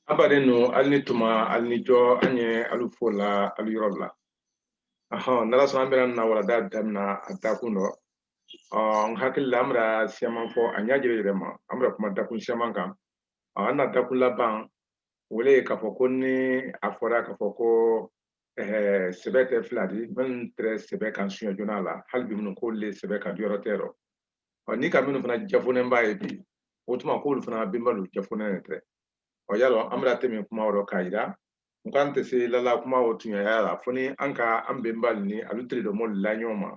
an badennu alu ni tuma alu ni jɔ an ye alu fo la alu yɔrɔ la ahɔn n'ala sɔnna an bɛna na walada damina a dakun dɔ n hakili la an bɛna siyaman fɔ a ɲɛ jɛrɛ yɛrɛ ma an bɛna kuma dakun siyaman kan an na dakun laban o le ye k'a fɔ ko ni a fɔra k'a fɔ ko sɛbɛ tɛ fila di minnu tɛrɛ sɛbɛ kan suɲɛ joona la hali bi minnu k'olu le sɛbɛ kan jɔrɔ tɛ o rɔ ɔ ni ka minnu fana jafonenba ye bi o tuma k'olu fana benbalu jafonen de tɛrɛ ɔ yalɔn an bɛna tɛmɛ kuma o rɔ k'a yira n k'an tɛ se la la kuma o tuɲaya la fo ni an ka an benbalu ni alu tere dɔ mɔlu la ɲɔgɔn ma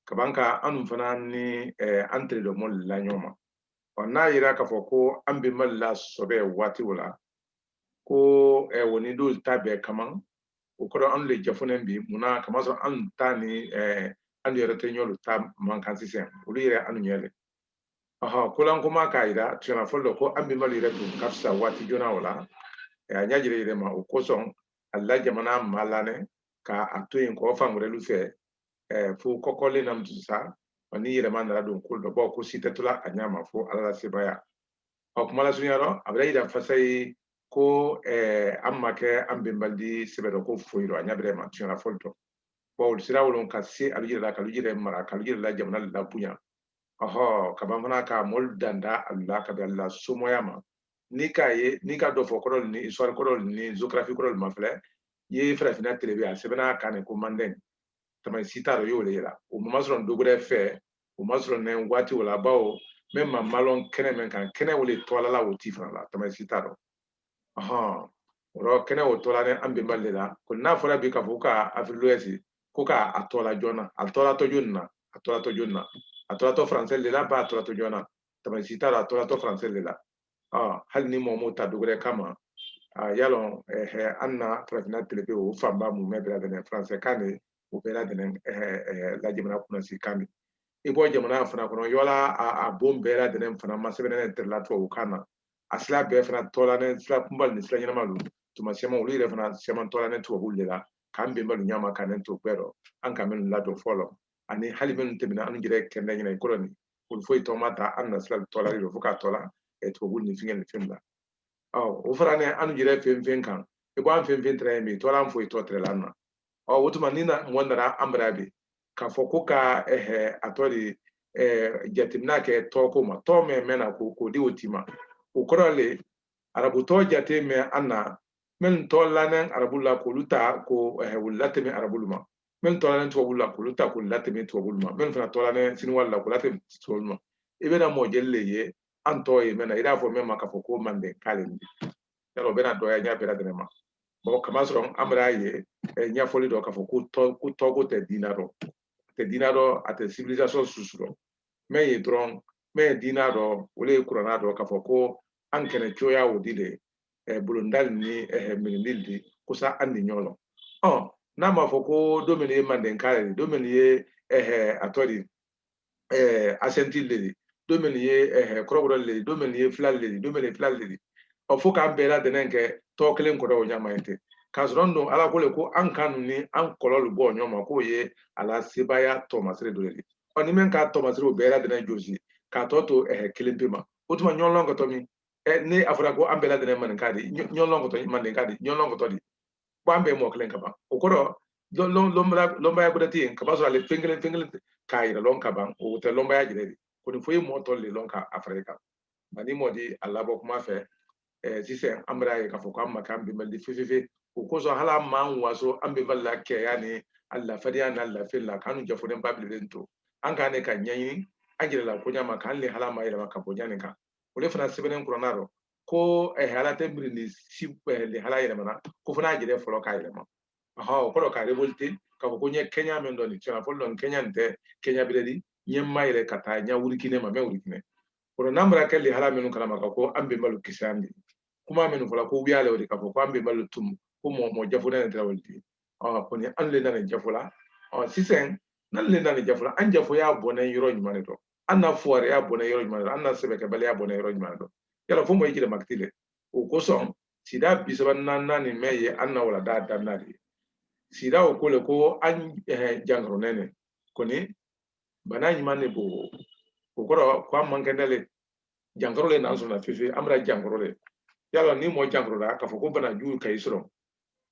kaban ka annu fana ni an tere dɔ mɔlu la ɲɔgɔn ma ɔ n'a yira k'a fɔ ko an benbalu la sɔbɛ waati o la ko o ni dɔlu ta bɛɛ kaman o kɔrɔ anw le jafonen bi mun na k'a masɔrɔ anw ta ni eh, anw yɛrɛ tɛ ɲɔlu ta man kan sisan olu yɛrɛ anw ɲɛ le ɔhɔ kolankoma k'a yira tuɲa fɔli dɔ ko an benbalu yɛrɛ tun ka fisa waati joona o la eh, a ɲɛ jɛrɛ yɛrɛ ma o kosɔn alu la jamana malɔnnɛ ka a to yen kɔ fan wɛrɛlu fɛ eh, fo kɔkɔlen na mutu sa ni yɛrɛma nana don ko dɔ bɔ ko si tɛ to la a ɲɛ ma fo ala la sebaya ɔ kuma lasurunya rɔ a bara yira fasayi ko eh, an ma kɛ an benbalu di sɛbɛ dɔ ko foyi dɔ a ɲa bɛrɛ ma tuɲa fɔli dɔ bon olu sera wolon ka se alu yɛrɛ la k'alu yɛrɛ mara k'alu yɛrɛ la jamana labonya ɔhɔ kaban fana ka mɔlu danda alu la ka bila somɔya ma n'i k'a ye n'i ka dɔfɔ kɔrɔlu ni histoire kɔrɔlu ni géographie kɔrɔlu mafilɛ ye farafina telebe a sɛbɛnna kan ne ko mandɛn tamasi t'a dɔ y'o le ye la o ma sɔrɔ dɔ gbɛrɛ fɛ o masɔrɔnnɛn waati o la bawo min ba malɔn kɛnɛ min kan kɛnɛ o de tɔ la la o ti fana la tamasi t'a dɔ ɔhɔn o rɔ kɛnɛ o tɔlanen an benbalu de la ko n'a fɔra bi k'a fɔ ka Afrique de l'Ouest ko k'a a tɔla jɔn na a tɔlatɔ jɔn na a tɔlatɔ jɔn na a tɔlatɔ faransɛ de la ba a tɔlatɔ jɔn na tamasi t'a la a tɔlatɔ faransɛ de la hali ni mɔgɔ m'o ta dɔ gbɛrɛ kama yalɔn an na farafinna telebe o fanba mumɛ bɛɛ ladɛnnɛn faransɛ kan de o bɛɛ ladɛnnɛn la jamana kunnasi kan de i bɔ jamana fana kɔnɔ yɔla a bon bɛɛ ladɛnnɛn fana masɛbɛnnɛn tɛrɛ la tubabu kan na a sira bɛɛ fana tɔlanen sira kunbalu ni sira ɲɛnamalu tuma siyaman olu yɛrɛ fana siyaman tɔlanen tubabu de la k'an benbalu ɲama ka ne to bɛɛ dɔ an ka minnu ladon fɔlɔ ani hali minnu tɛmɛna an yɛrɛ kɛnɛ ɲɛna i kɔrɔ nin olu foyi tɔ ma ta an na sira tɔla de fo ka tɔla tubabu ni fɛngɛ ni fɛn la o faranen an yɛrɛ fɛn fɛn kan i b'an fɛn fɛn tɛrɛ min tɔla an foyi tɔ tɛrɛla na ɔ o tuma ni na mɔgɔ nana an bara bi k'a fɔ ko ka a tɔ de jateminɛ kɛ tɔɔko ma tɔɔ mɛn mɛn na ko k'o di o tii ma o kɔrɔ le arabu tɔɔ jate mɛ an na minnu tɔɔ lanen arabu la k'olu ta k'u latɛmɛ arabulu ma minnu tɔɔlanen tubabulu la k'olu ta k'u latɛmɛ tubabulu ma minnu fana tɔɔlanen siniwalu la k'u latɛmɛ tubabulu ma i bɛna mɔɔ jeli le ye an tɔɔ ye mɛn na i n'a fɔ mɛn ma k'a fɔ ko mandenka le yala o bɛna dɔgɔya ɲɛ bɛɛ ladɛnɛn ma bon k'a masɔrɔ an bar'a ye eh, ɲɛfɔli dɔ k'a fɔ ko tɔgɔ tɛ diina dɔ a tɛ diina dɔ a tɛ civilisation susu dɔ mɛn ye dɔrɔn mɛn ye diina dɔ o de ye kuranna dɔ k'a fɔ ko an kɛnɛn cogoya o di le eh, bolondalu ni eh, mirindilu di kosa an di ɲɔgɔn lɔn ɔ n'a ma fɔ ko do mɛn ye mandenka le di do mɛn ye a tɔɔ di eh, asanti le di do mɛn ye eh, kɔrɔbɔrɔ le di do mɛn ye fila le di do mɛn ye fila le di ɔ fo k'an bɛɛ ladɛnɛn kɛ tɔgɔ kelen kɔrɔ o ɲama ye tɛ k'a sɔrɔ dun ala ko le ko an kannu ni an kɔlɔlu bɔ ɲɔgɔn ma k'o ye a la sebaaya tɔmasere dɔ di ɔ ni min k'a tɔmasere o bɛɛ ladɛnɛn jɔsi k'a tɔ to eh, kelen pe ma o tuma ɲɔgɔnlɔn kɛtɔ min eh, ni a fɔra ko an bɛɛ ladɛnɛn maninka di ɲɔgɔnlɔn kɛtɔ mandenka di ɲɔgɔnlɔn kɛtɔ di ko an bɛɛ mɔgɔ kelen ka ban o kɔrɔ lɔnbaya bɛrɛ tɛ yen k'a masɔrɔ ale fɛn kelen fɛn kelen k'a yɛrɛ lɔn ka ban o tɛ lɔnbaya jɛrɛ di ko ni fo i ye mɔgɔ tɔ le lɔn ka a fara i kan nka ni mɔgɔ di a labɔ kuma fɛ sisan an bar'a ye k'a fɔ k'an ma k'an bɛnbalu di fewu fewu o kosɔn hali an m'an waso an bɛnbalu la kɛya ni a la fadenya n'a lafiya la k'an jɔfɔlen ba bilen to an k'an ne ka ɲɛɲini an yɛrɛ la ko ɲa ma k'an lihala mayɛlɛma ka bɔ ɲani kan o de fana sɛbɛnnen kuranna rɔ ko eh, ala tɛ mirindi si eh, lihala yɛlɛma na ko fo n'a jɛrɛ fɔlɔ k'a yɛlɛma o kɔrɔ ka révolter k'a fɔ ko n ye kɛɲa min dɔ nin tiɲɛna fɔlɔ dɔn kɛɲa nin tɛ kɛɲa bɛrɛ di n ye ma yɛrɛ ka taa n ya wurikine ma mɛ wurikine o n'an bɔra kɛ lihala minnu kalama ka ko an bɛnbalu kisi an de kuma minnu fɔla ko wuya le o de k'a fɔ ko an bɛnbalu tun ko mɔgɔ mɔgɔ jafo ne tɛ wali ten kɔni an le nanen jafo la sisan n'an le nanen jafo la an jafoya bɔnɛn yɔrɔ ɲuman de dɔ an na fuwareya bɔnɛn yɔrɔ ɲuman dɔ an na sɛbɛkɛbaliya bɔnɛn yɔrɔ ɲuman dɔ yala fo mɔgɔ i yɛrɛ makiti dɛ o kosɔn sida bi saba naaninan nin mɛn ye an na walanda daminɛ de ye sida o ko le ko an eh, jankaronɛn ne kɔni bana ɲuman de b'o o kɔrɔ ko an man kɛnɛ le jankaro le n'an sɔnna fewu an bɛna jankaro le yala ni mɔgɔ jankaroda k'a fɔ ko bana jugu ka i sɔrɔ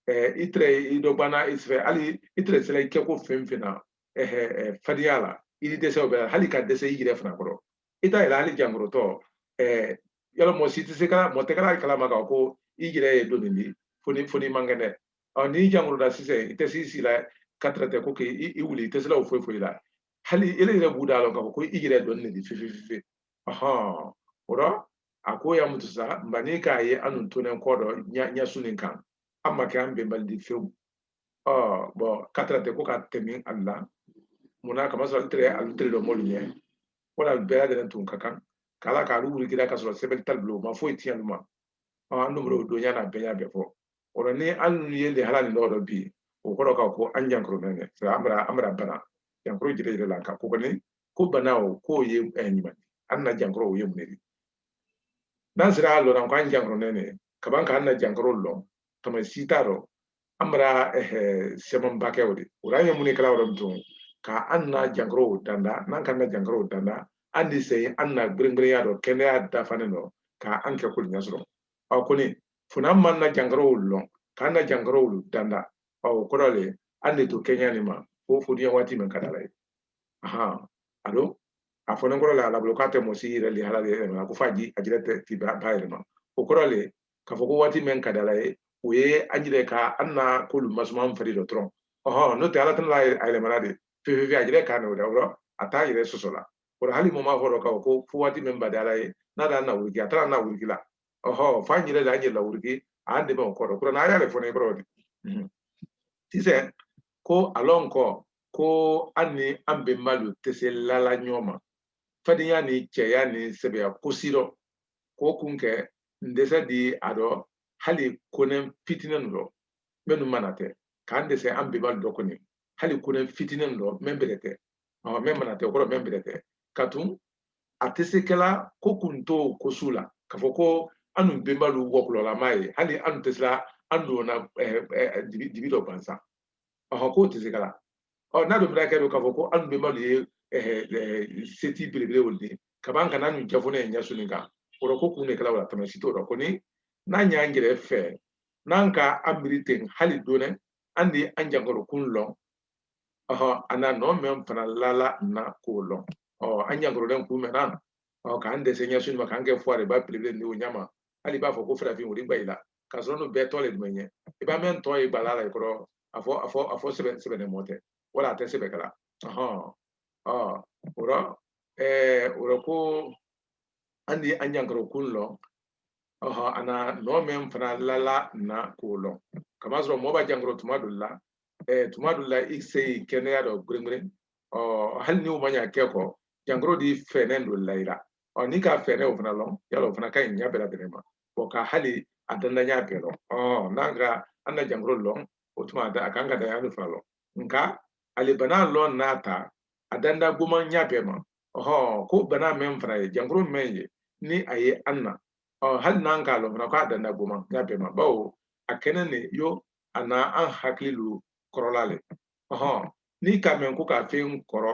eh, i tɛrɛ i dɔ banna i fɛ hali i tɛrɛ se la i kɛ ko fɛn fɛn na fadenya la i di dɛsɛ o bɛɛ hali ka dɛsɛ i yɛrɛ fana kɔrɔ i t'a yɛlɛ hali jankarotɔ yala mɔgɔ si tɛ se ka mɔgɔ tɛ kɛra kalama kan ko i yɛrɛ ye donin di fo n'i fo n'i man kɛnɛ ɔ n'i jankaroda sisan i tɛ s'i sii la ka tɛrɛ tɛ ko k'i i wuli i tɛ se la o foyi foyi la hali ile yɛrɛ b'u da la k'a fɔ ko i yɛrɛ donin de di fewu fewu ɔhɔn o rɔ a ko ya mutu sa mba n'i k'a ye annu tonen kɔ dɔ ɲa su nin kan an ma kɛ an bɛnbalu di fewu bɔn katira tɛ ko ka tɛmɛ ali la munna kamasɔrɔ tere alu tere dɔ m'olu ɲɛ wala bɛɛ lajɛlen tun ka kan k'ala ka alu wurikira ka sɔrɔ sɛbɛli t'alu bolo ma foyi tiɲɛ ma an numero o donya n'a bɛɛ y'a bɛɛ fɔ o la ni an nu ye lehala nin dɔ bi o kɔrɔ ka ko an jankoronen ne an bara an bara bana jankoro jire jire la ka ko kɔni ko bana o k'o ye ɲuman an na jankoro o ye mun de n'an sera a lɔn na ko an jankoronen ne kaban k'an na jankoro lɔn tama si t'a rɔ an bara se mɛn ba kɛ o di o rɔ an ye mun ne kɛla yɔrɔ min dɔn ka an na jankorow danda n'an k'an na jankoro danda an di se an na gringirinya dɔ kɛnɛya dafalen dɔ ka an kɛ kolu ɲa sɔrɔ ɔ kɔni fo n'an man na jankorow lɔn k'an na jankorow danda ɔ o kɔrɔ le an di to kɛɲa nin ma fo fodiya waati min ka di ala ye ahan alo a fɔnen kɔrɔ la ala bolo k'a tɛ mɔ si yɛrɛ lehala yɛlɛma ko f'a ji a jɛrɛ tɛ ti b'a yɛlɛma o kɔrɔ le k'a fɔ ko waati min ka di ala ye o ye an yɛrɛ ka an na kolu masuma an fari dɔ dɔrɔn ɔhɔn n'o tɛ ala tɛna a yɛlɛma la de fefe a yɛrɛ k'a na o la yɔrɔ a t'a yɛrɛ soso la o la hali mɔmɔ fɔlɔ ka ko fo waati min ba di ala ye n'a d'an nawuriki a t'an nawuriki la ɔhɔn f'an yɛrɛ de an yɛrɛ lawuriki an dɛmɛ o kɔrɔ kura n'a y'ale fɔ ne kɔrɔ de sisan ko alɔn kɔ ko an ni an bɛnbalu tɛ se lala ɲɔgɔn ma fadinya ni cɛya ni sɛbɛya ko si dɔ k'o kun kɛ n dɛsɛ di a dɔ hali konen fitinin dɔ minnu mana tɛ k'an dɛsɛ an bɛnbalu dɔ kɔni hali konen fitinin dɔ mɛn bɛrɛ tɛ mɛn mana tɛ kɔrɔ mɛn bɛrɛ tɛ ka tun a tɛ se kɛla ko kun t'o ko su la k'a fɔ ko an nu bɛnbalu wɔkulɔ lama ye hali an nu tɛ se la an don na dibi dɔ gansan ɔhɔn k'o tɛ se kɛla ɔ n'a dun bɛna kɛ don k'a fɔ ko an nu bɛnbalu ye seti belebele olu di kaban kana an nu jafone ye ɲa su nin kan o rɔ ko kun de kɛla o la tama si t'o rɔ kɔni n'an y'an yɛrɛ fɛ n'an ka an miiri ten hali dɔɔnɛn an di an jankɔrɔ kun lɔn ɔhɔ a na nɔ mɛn fana lala na k'o lɔn ɔ an jankɔrɔlen kun mɛn na ɔ k'an dɛsɛ ɲa su nin ma k'an kɛ fuwari ba belebele di o ɲa ma hali b'a fɔ ko farafin wuli gba i la ka sɔrɔ an nu bɛɛ tɔ le tun bɛ ye i b'a mɛn tɔ ye bala la i kɔrɔ a fɔ a fɔ a fɔ sɛbɛ sɛbɛ mɔ tɛ wala a tɛ sɛbɛ kɛla ɔhɔn ɔ o la ɛɛ o la ko an di an jankɔrɔ kun lɔn ɔhɔn a na nɔ min fana lala na k'o lɔn kamasɔrɔ mɔ ba jankɔrɔ tuma dɔ la ɛɛ tuma dɔ la i se i kɛnɛya dɔ gringirin ɔ hali ni o ma ɲa kɛ ko jankɔrɔ di fennɛn dɔ layira ɔ n'i ka fennɛn o fana lɔn yala o fana ka ɲi ɲɛ bɛɛ lajɛlen ma o ka hali a danda ɲa bɛɛ lɔn ɔ n'an ka an na jankaro lɔn o tuma a kan ka da ɲa lu fana lɔn nka ale bana lɔn n'a ta a danda goman ɲa bɛɛ ma ɔhɔ ko bana mɛn fana ye jankaro mɛn ye ni a ye an na ɔ hali n'an k'a lɔn fana k'a danda goman ɲa bɛɛ ma bawo a kɛnɛn ne yo a na an hakili lu kɔrɔla le ɔhɔ n'i k'a mɛn ko ka fɛn kɔrɔ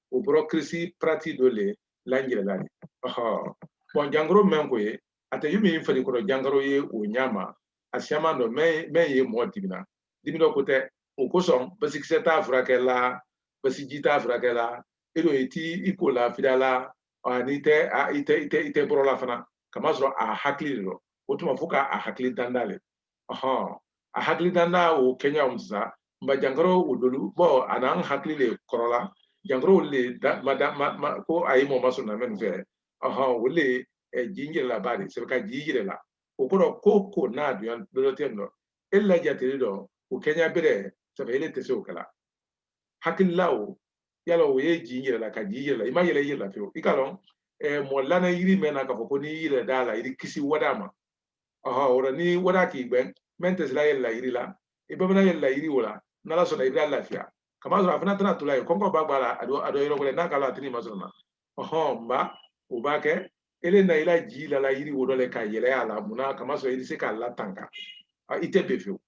o bɔrɔ kirisi parati dɔ le lanjɛrɛla di bɔn jankaro mɛn ko ye a tɛ yomin farikolo jankaro ye o ɲa ma a siyaman dɔ mɛn ye mɔgɔ dimin na dimi dɔ ko tɛ o kosɔn basikisɛ t'a furakɛ la basiji t'a furakɛ la e don i t'i ko la fida la ani i tɛ i tɛ i tɛ i tɛ bɔrɔ la fana kamasɔrɔ a hakili le dɔ o tuma fo k'a hakili danda le a hakili danda o kɛɲa o sisan nba jankaro o dɔ lu bɔn a n'an hakili le kɔrɔla jankaro olu de da ma da ma ma ko a ye mɔgɔ masɔrɔ la mɛn fɛ ɔhɔn olu de eh, ji n yɛrɛla ba de sɛbɛ ka ji yɛrɛ la o kɔrɔ ko ko n'a dunya dɔ dɔ tɛ nɔ e la jateli dɔ o kɛɲa bɛrɛ sɛbɛ ele tɛ se o kɛ la hakilila o yala o ye ji n yɛrɛ la ka ji yɛrɛ la i ma yɛlɛ i yɛrɛ la fewu i k'a lɔn eh, mɔgɔ lana yiri mɛn na k'a fɔ ko n'i yɛlɛ d'a la i di kisi wada ma ɔhɔn o la ni wara k'i gbɛn mɛn tɛ se la yɛlɛ la yiri la i ba ban na yɛlɛ la yiri o la n'ala sɔnna i bara lafiya kamasɔrɔ a fana tɛna to la yen kɔnkɔ ba gb'a la a dɔ a dɔ yɔrɔ wɛrɛ n'a k'a lɔn a tɛ n'i masɔrɔ na ɔhɔn nba o ba kɛ ele na i la ji la la yiri wo dɔ le ka yɛlɛ a la mun na kamasɔrɔ i di se k'a latanka i tɛ be fewu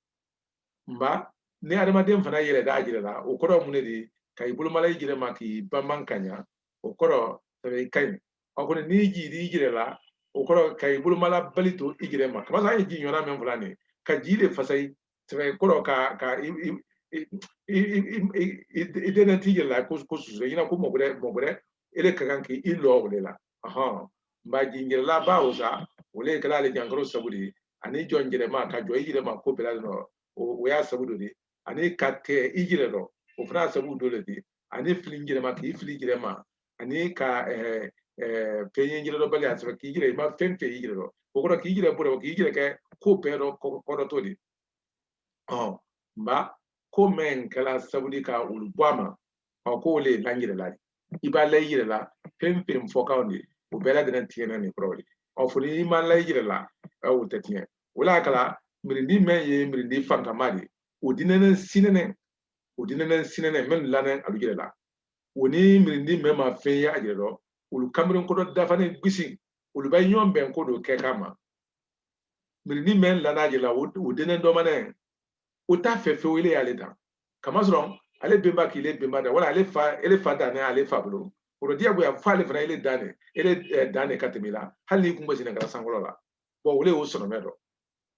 nba ni adamaden fana yɛlɛ d'a jɛrɛ la o kɔrɔ mun ne di ka i bolomala i jɛrɛ ma k'i banban ka ɲa o kɔrɔ i ka ɲi a kɔni n'i ji d'i i yɛrɛ la o kɔrɔ ka i bolomala bali to i yɛrɛ ma kamasɔrɔ an ye ji ɲɔgɔnna min fɔ la nin ka ji de fasari sɛbɛ kɔrɔ ka ka i i i i i dɛnɛ t'i yɛrɛ la ko ko su su i ɲɛna ko mɔgɔ wɛrɛ mɔgɔ wɛrɛ e de ka kan k'i i lɔ o de la ɔhɔn nba ji n yɛrɛla ba o sa o le kɛla le jankaro sabu di ani jɔ n yɛrɛ ma ka jɔ i yɛrɛ ma ko bɛɛ la o y'a sabu dɔ di ani ka tɛ i yɛrɛ dɔ o fana y'a sabu dɔ le di ani fili n yɛrɛ ma k'i fili i yɛrɛ ma ani ka fɛn ye i yɛrɛ dɔ bali a sɔrɔ k'i yɛrɛ i ma fɛn fɛn y'i yɛrɛ dɔ o kɔrɔ k'i yɛrɛ bolo k'i yɛrɛ kɛ ko bɛɛ dɔ kɔtɔ di ɔ nba ko mɛn kɛla sabu di ka olu bɔ a ma ɔ k'o le la n yɛrɛ la i ba la i yɛrɛ la fɛn fɛn fɔ kan ɔ o bɛɛ ladɛn tiɲɛ na nin kɔrɔ de ɔ fo n'i ma la i yɛrɛ la o tɛ tiɲɛ o la kala mirindi mɛn ye mirindi fankama di o denɛnɛ sinɛnɛ o denɛnɛ sinɛnɛ mɛn lanɛ alu jɛrɛ la o ni mirindi mɛn ma fɛn ye a jɛrɛ dɔ olu kanberen kɔdɔ dafani gbisi olu ba ɲɔgɔn bɛn ko dɔ kɛ kama mirindi mɛn lanɛ a jɛrɛ la o denɛ dɔmanɛ o t'a fɛ fewu ele y'ale dan kamasɔrɔ ale benba k'ile benba dan wala ale fa ele fa dan ale fa bolo o diyagoya fo ale fana ele dan de ele dan de ka tɛmɛ i la hali n'i kun bɛ senɛ ka la sankolo la bɔn o le y'o sɔrɔ mɛ dɔ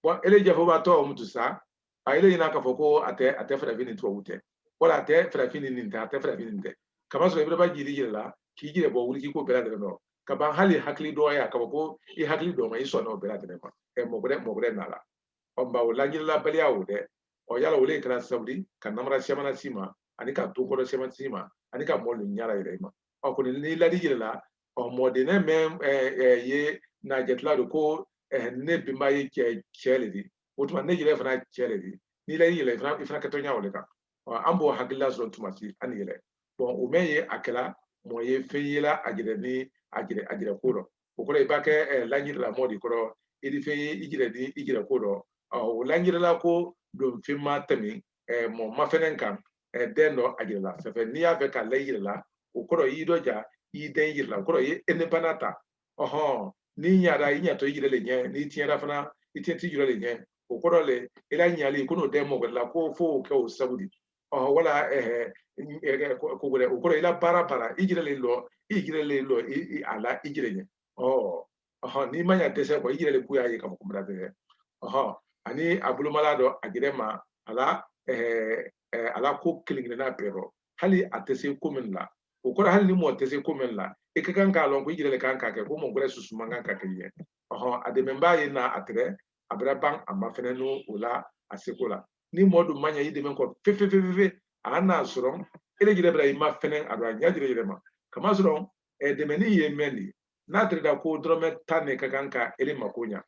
bɔn ele jɛfɔbatɔ o mutu sa a ele ɲina k'a fɔ ko a tɛ a tɛ farafin ni tubabu tɛ wala a tɛ farafin ni nin tɛ a tɛ farafin nin tɛ kamasɔrɔ i bara ba jiri yɛrɛ la k'i jɛrɛ bɔ wuli k'i ko bɛɛ lajɛlen dɔn ka ban hali hakili dɔgɔya ka bɔ ko i hakili dɔn ma i sɔnna o bɛɛ lajɛlen ma ɛ mɔgɔ wɛrɛ mɔgɔ wɛrɛ nana ɔ nka o lanjɛrɛlabaliya o dɛ ɔ yala o de kɛra sababu ye ka namara sɛmana si ma ani ka to kɔrɔ sɛmana si ma ani ka mɔɔ lu ɲara yɛrɛ i ma ɔ kɔni n'i lad'i yɛrɛ la ɔ mɔden ne mɛ ɛ ye n'a jate la don ko ɛ ne benba ye cɛ cɛ le di o tuma ne yɛrɛ fana cɛ le di n'i la i yɛrɛ i fana i fana kɛtɔ ɲa o le kan ɔ an b'o hakilila sɔrɔ tuma si an ni yɛlɛ bɔn o mɛ ye a kɛla mɔ ye fɛn ye la a jɛrɛ ni a jɛrɛ a jɛrɛ ko dɔ o kɔrɔ i b'a kɛ ɛ lanjɛrɛla mɔ di kɔrɔ i di fɛn ye i jɛrɛ ni i jɛrɛ ko dɔ ɔ o lanjɛrɛla ko don fɛn ma tɛmɛ ɛ mɔ ma fɛnɛ kan den dɔ a jɛrɛ la se fɛ n'i y'a fɛ ka la i yɛrɛ la o kɔrɔ y'i dɔja y'i dɛn i yɛrɛ la o kɔrɔ ye e ne bana ta ɔhɔn n'i ɲara i ɲatɔ yɛrɛ le ɲɛ n'i tiɲɛna fana i tiɲɛt'i yɛrɛ le ɲɛ o kɔrɔ le i la ɲali kana dɛn mɔgɔ la ko fo o kɛ o sabu di ɔhɔn wala ɛɛ ko wɛrɛ o kɔrɔ i la baara baara i yɛrɛ le lɔ i yɛrɛ le lɔ i a la i yɛrɛ ɲɛ ɔ ɔhɔn n'i ma ɲa dɛsɛ kɔ i yɛrɛ de k'u y'a ye k'a fɔ ko n bara dɛsɛ ɔhɔn ani a bolomala dɔ a jɛrɛ ma a la ɛɛ a la ko kelen kelenna bɛɛ rɔ hali a tɛ se ko min la o kɔrɔ hali ni mɔgɔ tɛ se ko min la i ka kan k'a lɔn ko i yɛrɛ de kan k'a kɛ ko mɔgɔ wɛrɛ susu man kan k'a kɛ ɲɛ ɔhɔn a dɛmɛbaa ye na a tɛrɛ a bara ban a ma fɛnɛ n'o o la a seko la ni mɔgɔ dun ma ɲɛ i dɛmɛ ko fɛ a ka n'a sɔrɔ e de yɛrɛ bara i ma fɛnɛ a don a ɲɛ jira yɛrɛ ma kamasɔrɔ dɛmɛni ye mɛn de ye n'a tɛrɛda ko dɔrɔmɛ tan ne ka kan ka ele mako ɲa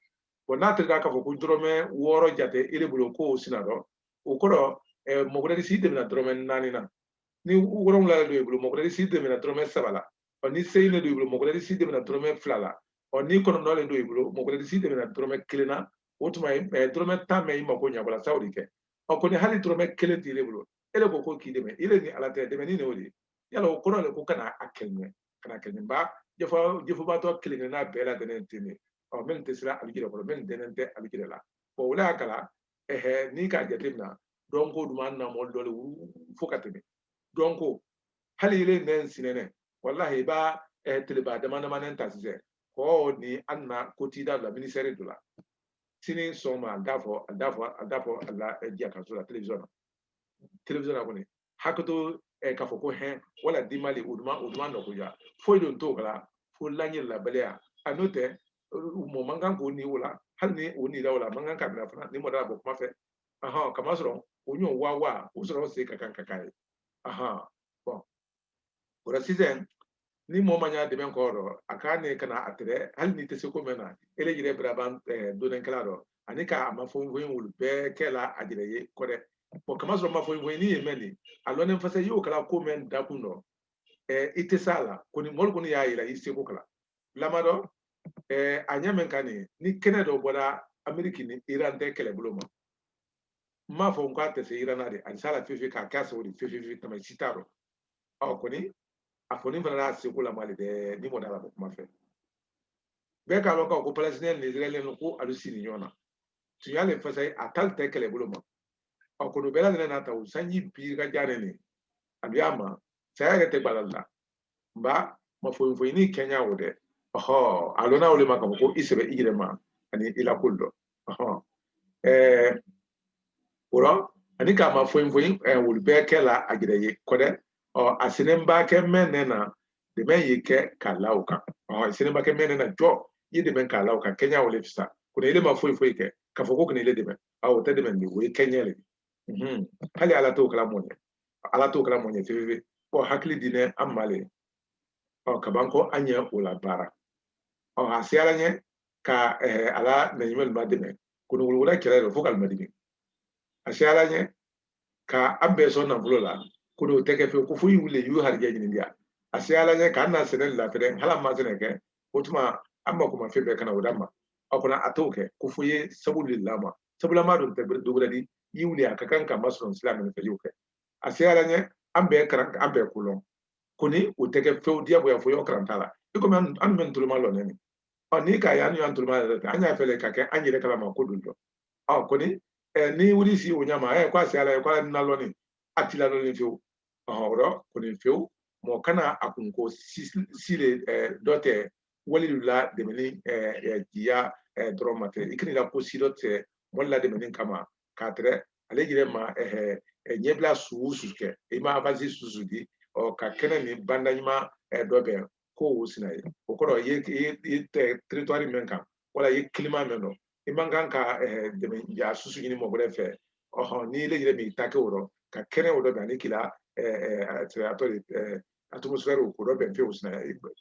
bɔn n'a tɛrɛda k'a fɔ ko dɔrɔmɛ wɔɔrɔ jate ele bolo ko o sina dɔ o kɔrɔ eh, mɔ gbɛrɛ s'i dɛmɛna dɔrɔmɛ naani na ni wolonwula de don i bolo mɔ gbɛrɛ s'i dɛmɛna dɔrɔmɛ saba la ɔ ni seyin de don i bolo mɔ gbɛrɛ s'i dɛmɛna dɔrɔmɛ fila la ɔ ni kɔnɔntɔn de don i bolo mɔ gbɛrɛ s'i dɛmɛna dɔrɔmɛ kelen na o tuma eh, dɔrɔmɛ tan mɛn i mako ɲa wala sawo di kɛ ɔ kɔni hali dɔrɔmɛ kelen t'i bolo e de ko ko k'i dɛmɛ i de ni ala tɛ dɛmɛni ne o de ye yala o kɔrɔ le ko kana a kɛlɛ kana kɛ nin ba jɛfɔ jɛfɔbatɔ kelen kelenna bɛɛ lajɛlen ten de ɔ minnu tɛ se la alu jɛrɛ kɔrɔ minnu dɛnnen tɛ alu jɛrɛ la o le y'a kɛla ɛhɛ n'i k'a jateminɛ dɔnko duman an na mɔ dɔ de fo ka tɛmɛ dɔnko hali ile nɛ n sinɛnɛ walahi i b'a teleba dama damanen ta sisan kɔɔ ni an na ko t'i da la minisɛri dɔ la sini sɔgɔma a da fɔ a da fɔ a da fɔ a la jakaso la telewisɔn na telewisɔn na kɔni hakɛto eh, k'a fɔ ko hɛn wala dimali o duma o duma nɔgoya foyi don t'o kɛla fo lanjɛrɛlabaliya a n'o tɛ mɔɔ man kan k'o ni o la hali ni o nira o la man kan ka mina fana ni mɔ da la bɔ kuma fɛ ahɔn kamasɔrɔ o ɲɔ wa wa o sɔrɔ se ka kan ka k'a ye ahɔn bɔn o la sisan ni mɔgɔ ma ɲa dɛmɛ ko dɔ a k'a ne kana a tɛrɛ hali n'i tɛ se ko mɛn na ele yɛrɛ biraban donenkɛla dɔ ani k'a ma fɔ foyi olu bɛɛ kɛ la a yɛrɛ ye ko dɛ bɔn kama sɔrɔ ma fɔ foyi ni ye mɛn nin a lɔnnen fasayi o kala ko mɛn dakun dɔ i tɛ s'a la kɔni mɔli kɔni y'a yira i seko kala lamadɔ a ɲa mɛn ka nin ni kɛnɛ dɔ bɔra ameriki ni iran tɛ kɛlɛbolo ma n m'a fɔ n k'a tɛ se iran na dɛ ani s'a la fefe k'a k'a sɔrɔ de fefe tama si t'a dɔn ɔ kɔni a kɔni fana n'a seko la mali bɛɛ ni mɔgɔ da la ko kuma fɛ bɛɛ k'a dɔn k'a ko palestiniyɛn ni israɛliyɛn nu ko alu siri ɲɔgɔn na tuɲa le fasayi a t'alu tɛ kɛlɛbolo ma a kɔni bɛɛ lajɛlen n'a ta o sanji biri ka diya ne nin a bɛ a ma saya yɛrɛ tɛ balali la nka ma foyi foyi kɛ ɲa o dɛ ɔhɔ a lɔnna o le ma k'a fɔ ko i sɛbɛ i yɛrɛ ma ani i la ko lu dɔ ɔhɔ ɛɛ o la ani k'a ma foyi foyi olu bɛɛ kɛ la a yɛrɛ ye ko dɛ ɔ a senen ba kɛ mɛn ne na dɛmɛ ye kɛ k'a la o kan ɔ a senen ba kɛ mɛn ne na jɔ i ye dɛmɛ k'a la o kan kɛɲa o le fisa ko ne ma foyi foyi kɛ k'a fɔ ko kene le dɛmɛ a o tɛ dɛmɛ o ye kɛɲa le mhm. hali ala t'o kɛ la mɔgɔ ye ala t'o kɛ la mɔgɔ ye fefefe ɔ hakili dinen an ma le ɔ ka ban ko an ye o labaara ɔ a se ala ɲɛ ka eh, ala na ɲuman lu madɛmɛ ko ne wolowola kɛlɛ le fo k'alu madimi a se ala ɲɛ ka an bɛɛ sɔn nafolo la kɔni o tɛ kɛ fewu ko fo i wuli i y'i harijɛ ɲini diya a se ala ɲɛ k'an na sɛnɛ lafɛrɛ hali an ma sɛnɛ kɛ o tuma an mako ma fɛn bɛɛ ka na o d'an ma a kɔni a t'o kɛ ko fo i ye sabu le la ma sabu lama don tɛ dɔ wɛrɛ di i wuli a ka kan ka masɔrɔ sira mɛn ne fɛ i y'o kɛ a se ala ɲɛ an bɛɛ karan an bɛɛ ko lɔn kɔni o tɛ kɛ fewu diyagoya fo i wa karanta la i komi an dun bɛ nin tolo malɔnen nin ɔ ni k'a ye an y'an toloma yɛrɛ tɛ an y'a fɛ ka kɛ an yɛrɛ kalama ko don dɔn ɔ kɔni n'i wuli si o ɲa ma ɛ ko a se ala ye ko ala n nalɔni a t'i lalɔni fewu ɔrɔ kɔni fewu mɔgɔ kana a kunko si le dɔ tɛ wali lu la dɛmɛni jiya dɔrɔn ma tɛ i kan'i la ko si dɔ tɛ mɔgɔ lu la dɛmɛni kama k'a tɛrɛ ale yɛrɛ ma ɲɛbila su o su kɛ i ma avansi susu di ɔ ka kɛnɛ ni banda ɲuman dɔbɛn ko o sina ye o kɔrɔ i ye teritwari min kan wala i ye kilima mɛn dɔ i man kan ka eh, dɛmɛ ɲa susu ɲini mɔgɔ wɛrɛ fɛ ɔhɔn n'i le yɛrɛ m'i ta kɛ o rɔ ka kɛnɛ o dɔbɛn ani kila atɔ de atmosfɛri o dɔbɛn fewu o sina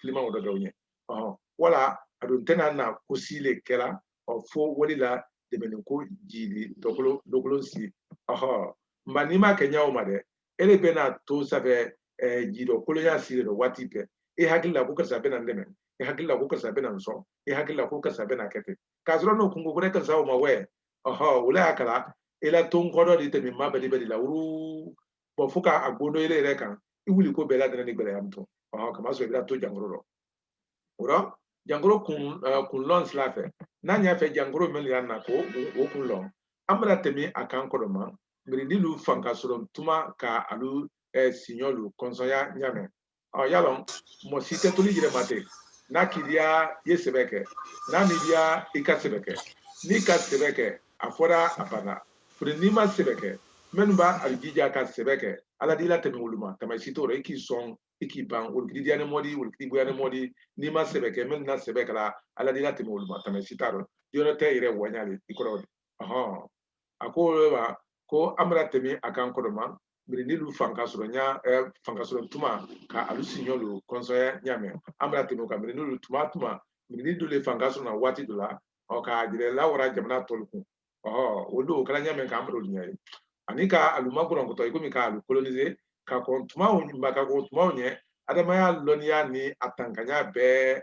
kilima o dɔbɛn o ɲɛ ɔhɔn wala a dun tɛna na ko si le kɛ la ɔ fo wali la dɛmɛni ko jili dɔkolo dɔkolo si ɔhɔn nka n'i ma kɛ ɲa o ma dɛ ele bɛna to sanfɛ eh, jigi dɔkolonya si le dɔ waati bɛɛ e hakili la ko karisa bɛna n dɛmɛ e hakili la ko karisa bɛna n sɔn i hakili la ko karisa bɛna kɛ ten k'a sɔrɔ n'o kungo ko ne karisa o ma wɛ ɔhɔ o la y'a kala i la ton kɔdɔ de tɛmɛ ma bɛli bɛli la wuru bɔn fo k'a gondo yɛrɛ yɛrɛ kan i wuli ko bɛɛ ladɛnɛ ni gɛlɛya min tɔ ɔhɔ kamasɔrɔ i bɛna to jankoro rɔ o rɔ jankoro kun lɔn sila fɛ n'an y'a fɛ jankoro min y'an na k'o kun lɔn an bara tɛmɛ a kan kɔrɔ ma mirindi lu fanga sɔrɔ tuma ka alu siɲɔ lu kɔnsɔnya ɲa mɛn ɔ y'a lɔn mɔgɔ si tɛ to l'i yɛrɛ ma ten n'a k'i diya i ye sɛbɛ kɛ n'a m'i diya i ka sɛbɛ kɛ n'i ka sɛbɛ kɛ a fɔra a banna foni n'i ma sɛbɛ kɛ minnu ba alu jija ka sɛbɛ kɛ ala d'i la tɛmɛ olu ma tama si t'o rɔ i k'i sɔn i k'i ban olu k'i diyani mɔ di olu k'i goyani mɔ di n'i ma sɛbɛ kɛ minnu na sɛbɛ kɛ la ala d'i la tɛmɛ olu ma tama si t'a rɔ yɔrɔ tɛ i yɛrɛ wanya de i kɔrɔ de ɔhɔn a ko ma ko an bara tɛmɛ a kan kɔrɔ ma mirindi lu fanka sɔrɔ ɲa fanka sɔrɔ tuma ka alu siɲɔ lu kɔnsɔnya ɲa mɛn an bara tɛmɛ o kan mirindi lu tuma tuma mirindi do le fanka sɔrɔ na waati dɔ la ɔ ka jɛrɛ lawara jamana tɔ lu kun ɔhɔ o don o kɛra ɲa mɛn k'an bara olu ɲa ye ani ka alu makɔrɔnkɔtɔ i komi ka alu kolonize ka kɔn tumaw ma ka kɔn tumaw ɲɛ adamadenya lɔnniya ni a tankanya bɛɛ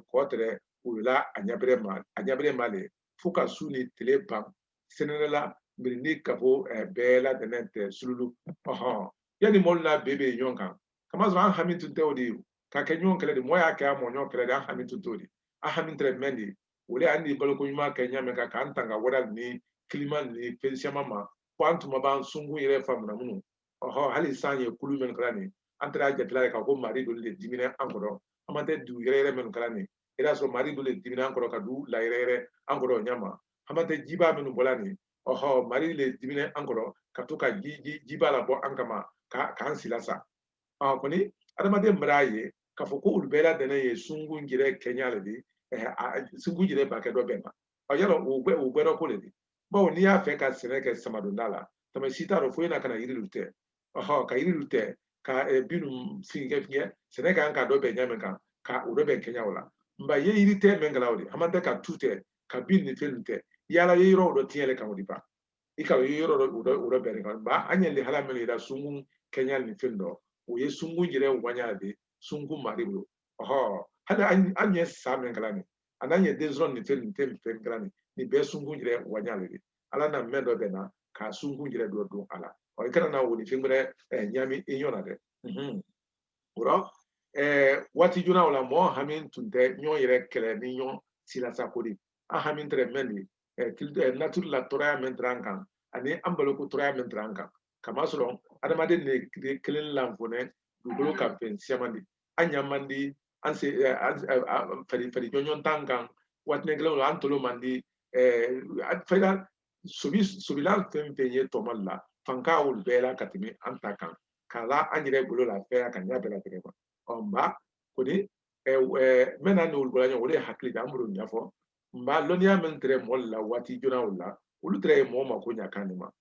ko tɛrɛ olu la a ɲabɛrɛ ma a ɲabɛrɛ ma le fo ka su ni tile ban senere la mirindi kafo bɛɛ ladɛnɛ tɛ sululu ɔhɔn yanni mɔlu n'a bɛɛ bɛ ɲɔgɔn kan kamasɔrɔ an hami tun tɛ o di ka kɛ ɲɔgɔn kɛlɛ di mɔgɔ y'a ka mɔ ɲɔgɔn kɛlɛ di an hami tun t'o di an hami tɛrɛ mɛn di o le an di baloko ɲuman kɛ ɲa mɛn ka k'an tanga wara ni kilima ni fɛn siyaman ma fo an tuma b'an sunkun yɛrɛ faamu na munun ɔhɔn hali san ye kulu minnu kɛra nin an tɛrɛ a jate la ka ko mari do le diminɛ an kɔrɔ hamantɛ dugu yɛrɛyɛrɛ minnu kɛra nin i d'a sɔrɔ mari do le diminɛ an kɔrɔ ka du layɛrɛyɛrɛ an kɔrɔ ɲama hamantɛ jibaa minnu bɔla nin ɔhɔ mari le diminɛ an kɔrɔ ka to ka ji ji jibaa labɔ an kama ka k'an silasa ɔ kɔni adamaden bar'a ye k'a fɔ ko olu bɛɛ ladɛnɛ ye sungun jɛrɛ kɛɲa le di sungun jɛrɛ ba kɛ dɔ bɛɛ ma ɔ y'a lɔn o gbɛdɔ ko le di bawo n'i y'a fɛ ka sɛnɛ kɛ samadonda la tama si t'a rɔ fo i na ka na yiri lu tɛ ɔhɔ ka yiri lu tɛ ka eh, bin lu fɛnkɛ fɛnkɛ sɛnɛ kan ka dɔbɛn ɲa mɛn kan ka o dɔbɛn kɛɲa o la nba ye yiri tɛ mɛn kɛ la o di hamantɛ ka tu tɛ ka bin ni fɛn lu tɛ y'a lɔn i ye yɔrɔ dɔ tiɲɛ le kan o di ba i k'a lɔn i ye yɔrɔ dɔ o dɔ o dɔbɛn kan ba an ɲɛ hala mɛn ye la sungun kɛɲa ni fɛn dɔ o ye sungun yɛrɛ wanya de sungun mari bolo ɔhɔ hali an ɲɛ sa mɛn kɛ la nin ani an ɲɛ den sɔrɔ ni fɛn ni fɛn ni fɛn kɛ la nin nin bɛɛ sungun yɛrɛ wanya de ala na mɛn dɔbɛn na ka sunkun yɛrɛ dɔ don a la ɔ i kana na o ni fɛn wɛrɛ ɲami i ɲɔ na dɛ o rɔ waati joona o la mɔgɔ hami tun tɛ ɲɔgɔn yɛrɛ kɛlɛ ni ɲɔgɔn silasako di an hami tɛrɛ mɛn di natiri la tɔɔrɔya mɛn tɛrɛ an kan ani an baloko tɔɔrɔya mɛn tɛrɛ an kan kamasɔrɔ adamaden de kelen lanfɔnɛ dugukolo kan fɛn siyaman di an ɲa man di an se fari fari jɔnjɔn tan kan waatini kelen an tolo man di fɛn sobi sobila fɛn fɛn ye tɔmalu la fanka olu bɛɛ la ka tɛmɛ an ta kan k'a la an yɛrɛ bolo la fɛn ka ɲɛ bɛɛ la tɛgɛ kan ɔ nba kɔni mɛn na an ni olu bɔla ɲɔgɔn o le ye hakili di an bara o ɲafɔ nba lɔnniya min tɛrɛ mɔlu la waati joona o la olu tɛrɛ ye mɔgɔ mako ɲa kan de ma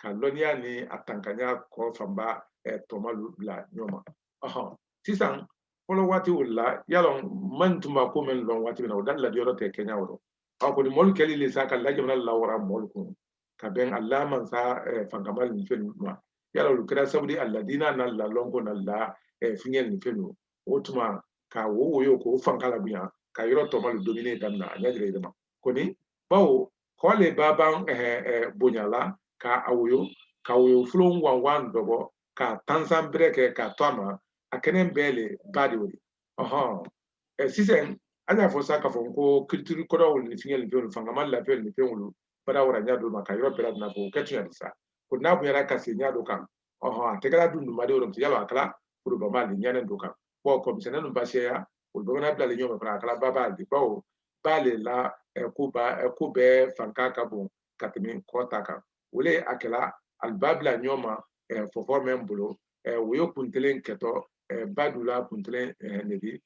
ka lɔnniya ni a tankanya ko fanba tɔmalu bila ɲɔgɔn ma sisan fɔlɔ waati o la y'a lɔn man tun b'a ko min lɔn waati min na o da ladiyɔrɔ tɛ kɛɲɛ o a kɔni mɔlu kɛli le sa k'a la jamana lawara mɔlu kun ka bɛn a la mansa fankamalu nin fɛn ninnu ma y'a lɔn o kɛra sabu di a la diina n'a la lɔnko n'a la fɛnkɛ nin fɛn ninnu o tuma ka wo woyo k'o fanga labonya ka yɔrɔ tɔmalu dominer daminɛ a ɲa jɛrɛ jɛrɛ ma kɔni bawo kɔ le ba ban bonyala ka a woyo ka woyo fulon wanwan dɔbɔ ka tansan bɛrɛ kɛ ka to a ma a kɛnɛn bɛɛ le ba di wuli ɔhɔn sisan an y'a fɔ sa k'a fɔ ko culture kɔrɔw ni fɛnkɛ ni fɛnw fangamalu la fɛn ni fɛnw bara wara ɲa dɔ ma ka yɔrɔ bɛɛ la nafɔ o kɛ tun yɛrɛ sa ko n'a bonyara ka se ɲa dɔ kan ɔhɔn a tɛgɛla dunduma de yɔrɔ yala a kala forobama le ɲanen don kan bɔn kɔ misɛnnɛn nu ba siyaya u bɛɛ bɛna bila le ɲɔgɔn ma fana a kɛla baba di bawo ba le la ko ba ko bɛɛ fanka ka bon ka tɛmɛ kɔ ta kan o le a kɛla alu ba bila ɲɔgɔn ma fo fo mɛn bolo woyo kuntelen kɛtɔ ba du la kuntelen nege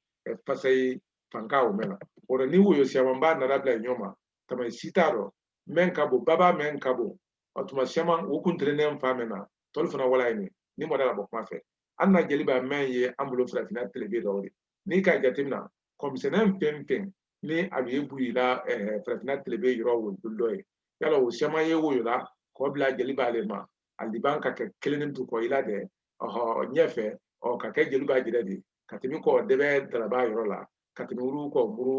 fasa ye fanka o mɛn na o la ni woyo siyaman ba nana bila ɲɔgɔn ma tama si t'a dɔ mɛn ka bon baba mɛn ka bon o tuma siyaman o kuntelen fan mɛn na tɔlu fana wala ye nin ni mɔda ka bɔ kuma fɛ an na jeliba mɛn ye an bolo farafinna telebe dɔ de n'i ka jateminɛ kɔ misɛnnɛn fɛn fɛn ni a bɛ bu i la farafinna telebe yɔrɔ wo dɔ ye yala o siyaman ye woyola k'o bila jeliba le ma alu di ban ka kɛ kelen ni du kɔ i la dɛ ɔhɔ ɲɛfɛ ɔ ka kɛ jeliba jɛrɛ di ka tɛmɛ kɔ dɛbɛ dalaba yɔrɔ la ka tɛmɛ wuru kɔ muru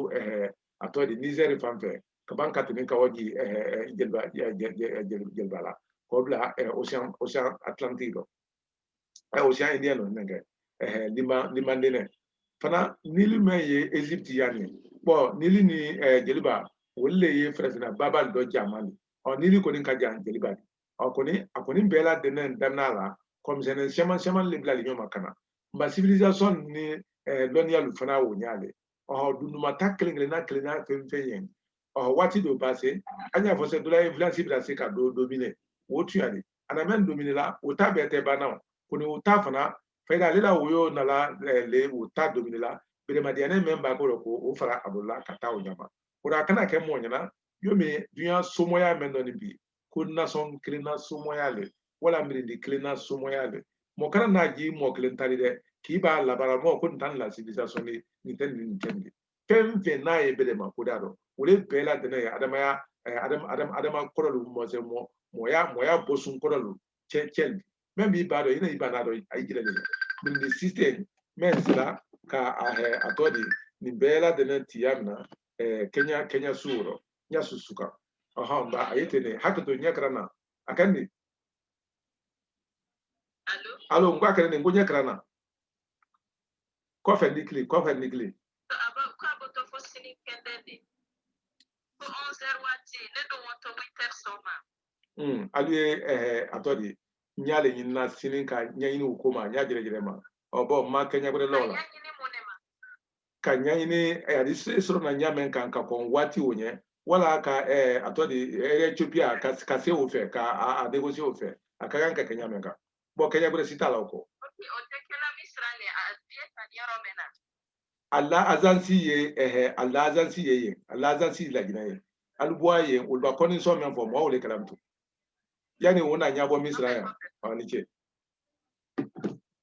a tɔ di nizɛri fan fɛ ka ban ka tɛmɛ ka wa ji jeliba la k'o bila océan océan atlantique dɔ ɛ océan indien nɔ nɛgɛ ɛhɛ lima lima denɛ fana nili mɛn ye égypte ya nin bɔn nili ni ɛ jeliba olu le ye farafinna babalu dɔ janman ni ɔ nili kɔni ka jan jeliba di ɔ kɔni a kɔni bɛɛ ladɛnnɛn daminɛla kɔ misɛnnɛn siyaman siyaman le bilali ɲɔgɔn ma ka na nba civilisation ni ɛ lɔnniya lu fana o ɲa le ɔ dunduma ta kelen kelenna kelenna fɛn fɛn ye ɔ waati dɔ ba se an y'a fɔ sa dɔ la influence bɛ se ka dɔ dominer o tuyali a na mɛn dominer la o ta bɛɛ tɛ banna o kɔni o ta fana fayida ale la woyo nala le o ta dominer la beremadiyane mɛn ba ko ko o fara a bolola ka taa o ɲama o rɔ a kana kɛ mɔgɔ ɲɛna yomi dunya somɔya mɛn dɔ nin bi ko nation kelen na somɔya le wala mirindi kelen na somɔya le mɔgɔ kana n'a ji mɔgɔ kelen tali dɛ k'i b'a labaara mɔgɔ ko nin tan ni la civilisation de nin tɛ nin nin tɛ nin fɛn fɛn n'a ye bɛlɛma kuda rɔ o le bɛɛ ladɛnɛ ye adamaya adama kɔrɔ lu mɔsɛ mɔ mɔya mɔya bɔsun kɔrɔ lu cɛ cɛ mɛ b'i ba dɔn i na i ba n'a dɔn a y'i jira le mirindi system mɛn se la ka a hɛ a tɔ di nin bɛɛ ladɛnɛ tiya min na kɛ kɛɲa su rɔ ɲa su su kan ɔhɔn nka a ye ten de hakɛto ɲɛ kɛra na a ka nin alo n ko a kɛra nin ko ɲɛ kɛra na kɔfɛ n d'i kili kɔfɛ n d'i kili k'a bɛ to fo sini kɛnɛ de ko 11 heures waati ne don o to 8 heures sɔgɔma alu ye a tɔ di ye n y'ale ɲinina sini ka ɲɛɲini o ko ma ɲa jɛrɛjɛrɛ ma ɔ bɔn n ma kɛɲa gbɛrɛ lɔn na ka ɲɛɲini an d'i sɔrɔ na ɲa mɛn kan ka kɔn waati o ɲɛ wala ka a tɔ di ethiopia ka se o fɛ ka a négocier o fɛ a ka kan ka kɛ ɲa mɛn kan bɔn kɛɲa gbɛrɛ si t'a la o kɔ a la agence ye ɛhɛ a la agence ye yen a la agence laginɛ ye alibuwa ye olu ba kɔnin so mɛn fɔ mɔgɔ o le kalama to yanni o na ɲɛbɔ misira yan aw ni ce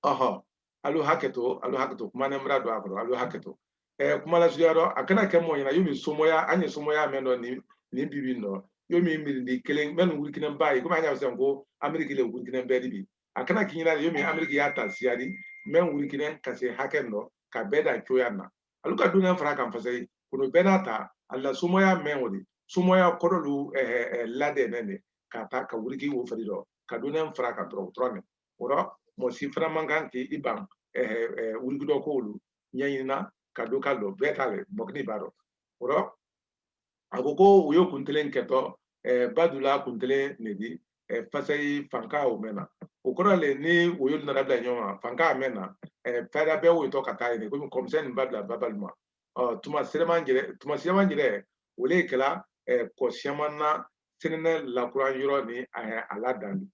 ɔhɔn alu haketo alu haketo kuma ne mura don a kɔrɔ alu haketo eh, kuma la suguya dɔ a kana kɛ mɔgɔ ɲɛna yomi somoya an ye somoya mɛn dɔ nin nin bibi nɔ yomi mirindi kelen mɛn wurikinen ba ye komi an y'a fɔ ko ameriki le wurikinen bɛɛ di bi a kana k'i ɲɛna yomi ameriki y'a ta siya di mɛn wurikinen ka se hakɛ nɔ ka bɛɛ da cogoya na alu ka dunan fara kan fasayi kɔnɔ bɛɛ n'a ta a la somoya mɛn o de somoya kɔrɔ lu eh, eh, eh, ladɛnɛ de ka ta ka wuriki o fari dɔ ka dunan fara kan dɔrɔn dɔrɔn o rɔ mɔgɔ si fana man kan k'i i ban wuriki dɔ ko olu ɲɛɲinina k'a dɔn k'a lɔn bɛɛ ta le mɔkini b'a rɔ o rɔ a ko ko woyo kuntelen kɛtɔ badula kuntelen ne di fasayi fanka mɛn na o kɔrɔ le ni woyo nara bila ɲɔgɔn ma fanka mɛn na fayida bɛɛ woyotɔ ka taa yen komi kɔ misɛn nin ba bila baba le ma tuma sɛrɛman jɛrɛ tuma sɛrɛman jɛrɛ o le kɛla kɔ siyaman na sɛnɛnɛ lakura yɔrɔ ni a la danni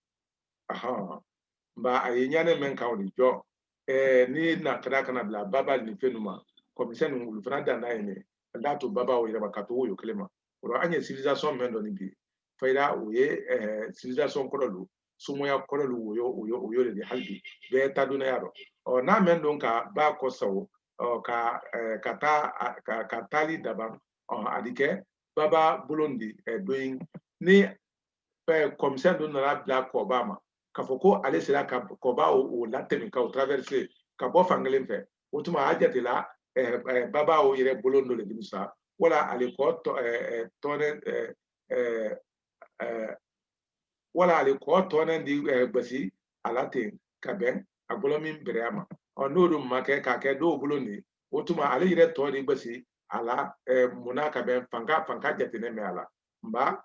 nba a ye ɲane mɛn kan o de jɔ eh, ni n'a kɛra ka na bila baba nin fɛn ninnu ma kɔ misɛn ninnu olu fana dan n'a ye ne an t'a to baba o yɛrɛ ma ka to woyo kelen ma o rɔ an ye civilisation mɛn dɔ nin bi fayida o ye eh, civilisation kɔrɔ lu somoya kɔrɔ lu woyo woyo woyo le hali bi bɛɛ ta dunuya dɔ ɔ n'a mɛn don ka ba kɔ sago ɔ ka eh, ka taa a- ka ka taali daban ɔ a di kɛ baba bolon di eh, doyin ni kɔmisɛn dɔ nana bila kɔba ma k'a fɔ ko ale sera ka kɔba o latɛmɛ ka o traverse ka bɔ fan kelen fɛ o tuma a jatela baba o yɛrɛ bolon dɔ le di mu sa wala ale kɔ tɔnɛ wala ale kɔ tɔnɛ di gbasi a la ten ka bɛn a bolo min bɛrɛ ma ɔ n'o dun ma kɛ k'a kɛ dɔ bolon di o tuma ale yɛrɛ tɔ di gbasi a la munna ka bɛn fanga fanga jate ne min a la nka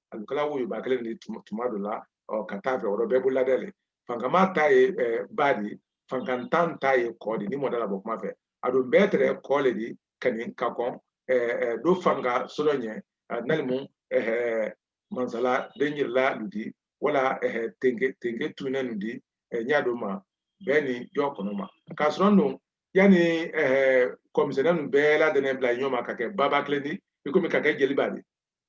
alu kɛla woyoba kelen di tuma dɔ la ka taa fɛ yɔrɔ bɛɛ bolo ladɛ le fankama ta ye ba di fankantan ta ye kɔ di ni mɔda la bɔ kuma fɛ a don bɛɛ tɛrɛ kɔ le di ka nin ka kɔn do fanga sɔrɔ ɲɛ nalimu mansala den yɛrɛla ludi wala tenke tenke tunnen nu di ɲa don ma bɛɛ ni jɔ kɔnɔ ma k'a sɔrɔ don yanni kɔmisɛnɛ nu bɛɛ ladɛnɛ bila ɲɔma ka kɛ baba kelen di i komi ka kɛ jeliba di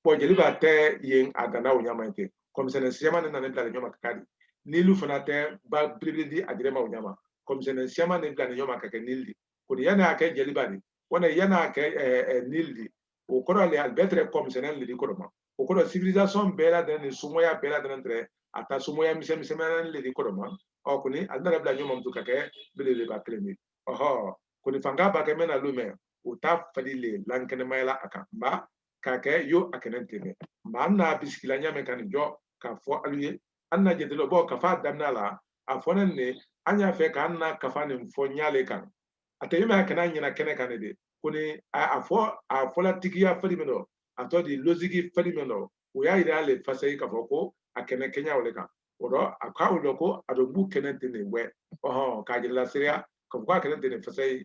bɔn jeliba tɛ yen a danna o ɲama ten kɔmisɛnɛ siyama ne nana bila ɲɔma ka k'a di nili fana tɛ ba belebele di a dirɛma o ɲama kɔmisɛnɛ siyama ne bila ɲɔma ka kɛ nili di ko ni yan'a kɛ jeliba di wala yan'a kɛ nili di o kɔrɔ le alu bɛɛ tɛrɛ kɔmisɛnɛ le di kɔrɔ ma o kɔrɔ civilisation bɛɛ ladɛnɛ ni somɔya bɛɛ ladɛnɛ tɛrɛ a ta somɔya misɛn misɛnnɛ le di kɔrɔ ma ɔ kɔni alu nana bila ɲɔma mutu ka kɛ belebeleba kelen di ɔhɔ kɔni fanga ba kɛ mɛna lu mɛ o ta fari le lankɛnɛmaya la a kan nba k'a kɛ yo a kɛnɛ tɛ kɛ nka an n'a bisikila ɲa mɛn ka nin jɔ k'a fɔ alu ye an na jate le bɔ kafa damina la a fɔnen ne an y'a fɛ k'an na kafa nin fɔ ɲa le kan a tɛ min a kana ɲɛna kɛnɛ kan ne de kɔni a fɔ a fɔla tigiya fari min dɔ a tɔ di logique fari min dɔ o y'a yira ale fasa ye k'a fɔ ko a kɛnɛ kɛɲa o de kan o dɔ a k'a o dɔ ko a bɛ bu kɛnɛ tɛ nin wɛ ɔhɔn k'a jirala seereya k'a fɔ k'a kɛnɛ tɛ nin fasa ye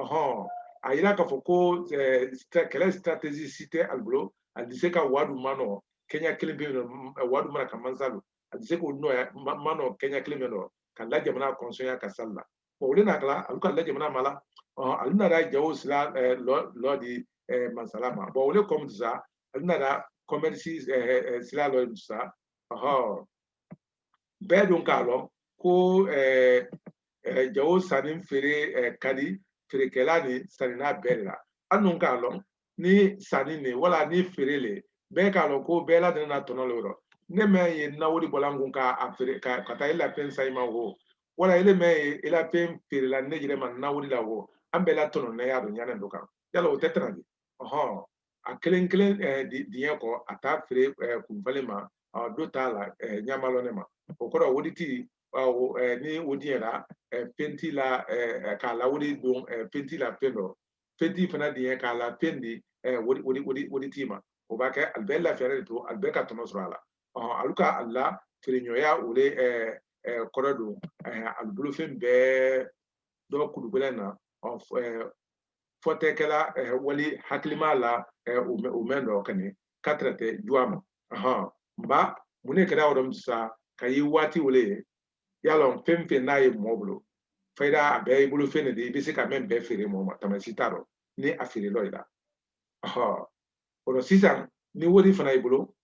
ɔhɔn a yira k'a fɔ ko kɛlɛ strategie si tɛ alu bolo a di se ka wadu ma nɔ kɛɲa kelen pe yen nɔ wadu mara ka mansa lɔ a di se k'o nɔ ma nɔ kɛɲa kelen pe nɔ ka la jamana kɔnsɔnya ka sali la bon olu na kala olu ka la jamana ma la olu nana jawo sira lɔ di mansala ma bon olu kɔmi sa olu nana commerce sira lɔ di sa ɔhɔn bɛɛ dun k'a lɔn ko ɛɛ ɛɛ jago sanni feere ɛɛ ka di feerekɛla ni sanninna bɛɛ de la an dun k'a lɔn ni sanni ne wala ni feere le bɛɛ k'a lɔn ko bɛɛ ladɛnɛ na tɔnɔ le yɔrɔ ne mɛ ye nawuli bɔla n kun k'a feere ka taa i la fɛn san i ma wo wala ele mɛ ye i la fɛn feere la ne yɛrɛ ma nawuli la wo an bɛɛ la tɔnɔ ne y'a dɔ ɲanɛ dɔ kan yala o tɛ tana di ɔhɔn a kelen kelen diɲɛ kɔ a t'a feere kunfalen ma dɔ t'a la ɲa malɔnen ma o kɔrɔ woditi ni o diɲɛra fɛnti la k'a la wodi don fɛnti la fɛn dɔ fɛnti fana diɲɛ k'a la fɛn di woditi ma o ba kɛ alu bɛɛ lafiyalen de to alu bɛɛ ka tɔnɔ sɔrɔ a la alu ka alu la feereɲɔgɔnya o de kɔrɔ don alu bolofɛn bɛɛ dɔ kologbɛlɛn na fɔtɛkɛla wali hakilima la o mɛn dɔ kɛnɛ ka tɛrɛtɛ juwa ma nba mun ne kɛra yɔrɔ sa ka ye waati wele ye yala fɛn fɛn n'a ye mɔɔ bolo fayida a bɛɛ i bolofɛn de i bɛ se ka mɛn bɛɛ feere mɔɔ ma tana si t'a dɔ ni a feere lɔ i la o la sisan ni wari fana i bolo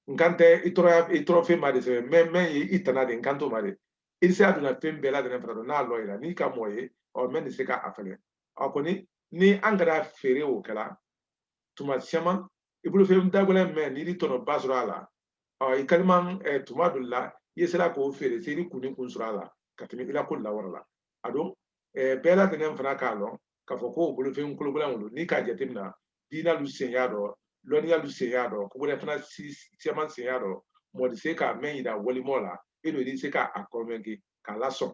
n kan tɛ i tɔɔrɔya i tɔɔrɔ fɛn ma de sɛbɛn mɛ mɛ ye i tana di n kan t'o ma de i se a donna fɛn bɛɛ lajɛlen fana don n'a lɔ i la n'i ka mɔɔ ye ɔ mɛ nin se ka a fɛnɛ a kɔni ni an kɛra feere o kɛra tuma siyaman i bolofɛn dagɛlɛn mɛn n'i di tɔnɔba sɔrɔ a la i kaliman tuma dɔ la i ye se la k'o feere se i kun ni kun sɔrɔ a la ka tɛmɛ i la ko lawara la a don bɛɛ lajɛlen fana k'a lɔn k'a fɔ ko bolofɛn kologbɛlɛn olu n'i k'a jateminɛ diina lu sen y'a dɔ lɔnniya lu sen y'a dɔ ko gbɛrɛ fana siyaman sen y'a dɔ mɔɔ di se k'a mɛn yira walimɔ la e don i se k'a kɔnvɛnke k'a lasɔn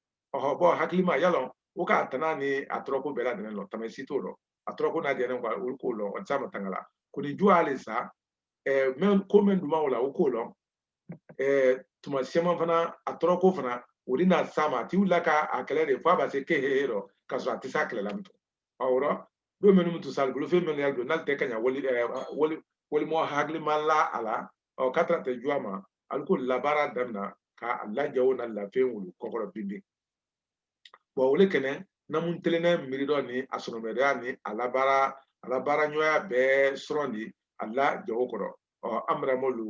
ɔhɔ bɔn hakilima y'a lɔn o k'a tana ni a tɔrɔko bɛɛ lajɛlen lɔn tama si t'o lɔ a tɔrɔko n'a dɛmɛ k'a olu k'o lɔn o ti s'a matanga la ko ni juwa le sa ɛɛ mɛ ko mɛn duman o la o k'o lɔn ɛɛ tuma siyaman fana a tɔrɔko fana o de na sa ma a ti wuli la ka a kɛlɛ de fo a ba se ke hehe lɔ k'a sɔrɔ a tɛ s'a kɛlɛ la mutu ɔ o lɔ don minnu mutu sa bolo fɛn minnu y'a don n'ale tɛ ka ɲa wali ɛɛ wali walimɔ hakilima la a la ɔ ka tɛrɛtɛ juwa ma alu k'o labaara damina k'a la jago n'a lafɛn olu kɔkɔrɔ binbin bɔn o le kɛnɛ namu telennen miiri dɔ ni a sɔnɔmɛdɛya ni a labaara a labaara ɲɔgɔnya bɛɛ sɔrɔ di a la jago kɔrɔ ɔ an bɛrɛ mɔ lu